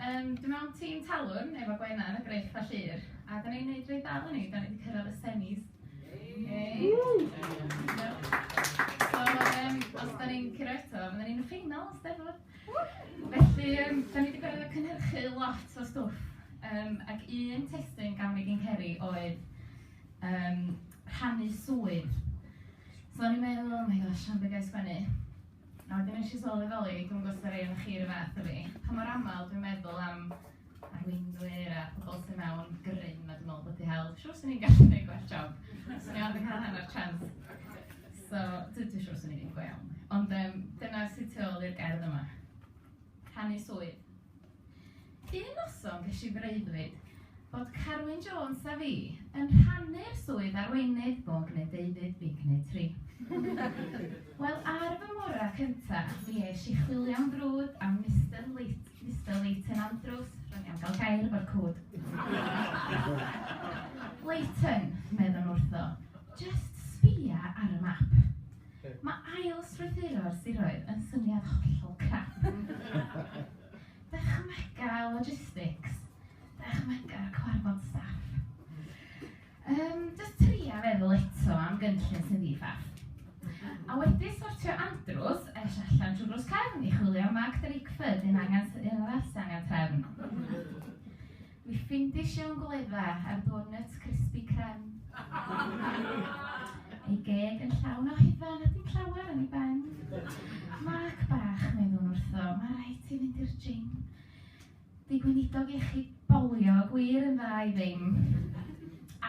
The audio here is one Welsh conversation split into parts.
Yym dwi mewn tîm talwrn efo Gwenna yn y Grej Pla Llŷr a 'da ni'n neud reit dda eleni, 'da ni 'di cyrraedd y semis. Hei! So yym os 'da ni'n curo eto fyddan ni'n y ffeinal, Steddfod! Felly yym 'da ni 'di gorfod cynhyrchu lot o stwff yym ac un testun gafon ni gin Ceri oedd yym rhannu swydd. So o'n i'n meddwl, 'oh my gosh, siom be ga i sgwennu? A wedyn nes i sôn yn y Ddolig, dwi'm yn gwybod os ydy rhai ohonoch chi yr un fath â fi, pa mor aml dwi'n meddwl am arweinwyr a pobl sydd mewn grym a dwi'n meddwl bod wedi hel, siwr swn i'n gallu gwneud gwell job, swn i ond yn cael hanner chance. So, dwi, dwi siwr swn i'n un go iawn. Ond um, dyna sydd tu ôl i'r gerdd yma. Rhannu swydd. Un noson ges i freuddwyd bod Carwyn Jones a fi yn rhannu'r swydd arweinydd bob gneudeudydd Dignitri. Wel, ar fy ngora cynta, mi es i chwilio'n frwd am Mister Leit- Mister Leighton Andrews, ro'n i am gael gair efo'r cwd. Leighton, meddwn wrtho, jyst sbïa ar y map. Mae ail-strwythuro'r siroedd yn syniad hollol crap. Dychmyga'r logistics, dychmyga'r cyfarfod staff. Yym, jyst tria feddwl eto am gynllun sy'n ddi-ffaff. A wedi sortio andrews, es allan trwy drws cefn i chwilio am Mark Drakeford, un angen, un arall sy'n angen trefn. Dwi ffindis iawn gwledda ar donuts crispy crem. Ei geg yn llawn o hufen a dim llawer yn ei ben. Mark bach, meddwn wrtho, mae rhaid ti fynd i'r gym. Di gweinidog iechyd bolio gwir yn dda i ddim.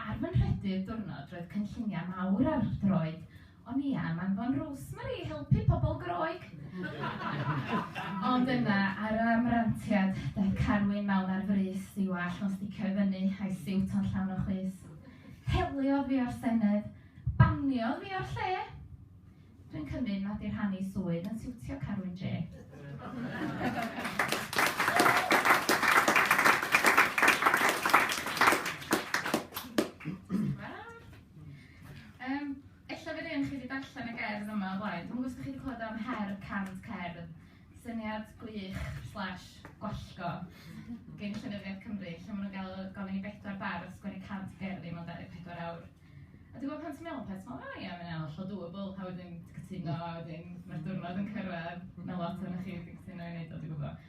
Ar fy nhrydydd diwrnod roedd cynlluniau mawr ar droed O'n i am anfon Rosemary i helpu pobl Groeg! Ond yna, ar ram rantiad, daeth Carwyn mewn ar frys, ei wallt o'n sticio i fyny, a'i siwt o'n llawn o chwys. Heliodd fi o'r Senedd! Baniodd fi o'r lle! Dwi'n cymryd nad yw rhannu swydd yn siwtio Carwyn Jay. Yym, ella fydd rhei chi 'di darllen y gerdd yma o blaen. Dwi'm yn gwybod os 'da chi 'di clywed am her cant cerdd. Syniad gwych slash gwallgo gin Llenyddiaeth Cymru, lle maen nhw'n gael gofyn i bedwar bardd sgwennu cant gerddi mewn 24 awr. A dwi'n gwybod pan ti'n meddwl peth, ti'n meddwl, o ia, mae'n hollol doable, a wedyn ti'n cytuno, a wedyn mae'r diwrnod yn cyrraedd, mae lot ohonoch chi wedi cytuno i wneud o, dwi'n gwybod.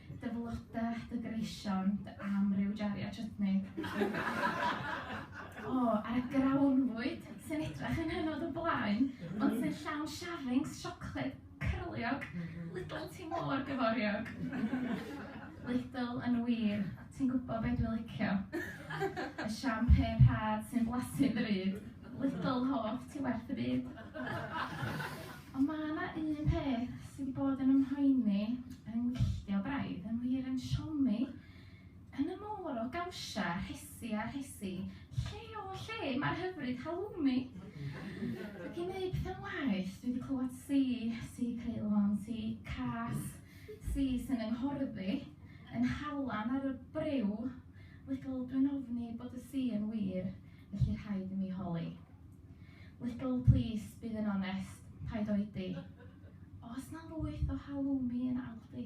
Dy flodau, dy greision, dy amryw jariau chutney. O, oh, ar y grawnfwyd sy'n edrach yn hynod o blaen, ond sy'n llawn shavings, siocled, cyrliog, Lidl ti mor gyforiog. Lidl yn wir, ti'n gwybod beth dwi'n licio. Y champagne rhad sy'n blasu bryd, Lidl hoff, ti werth y byd. Ond mae yna un peth sydd wedi bod yn ymhoeni yng ngwylltio braidd, yn wir yn siomi, yn y môr o gawsia, rhesi a rhesi, lle o lle mae'r hyfryd halloumi? Ac i wneud pethau'n waeth, dwi wedi clywed si, si Ceylon, si Cas, si sy'n yng nghorddi, yn halan ar y briw, little dwi'n ofni bod y si yn wir, felly rhaid i mi holi. Little plis bydd yn onest, paid oedi. Oes na lwyth o halloumi yn Aldi?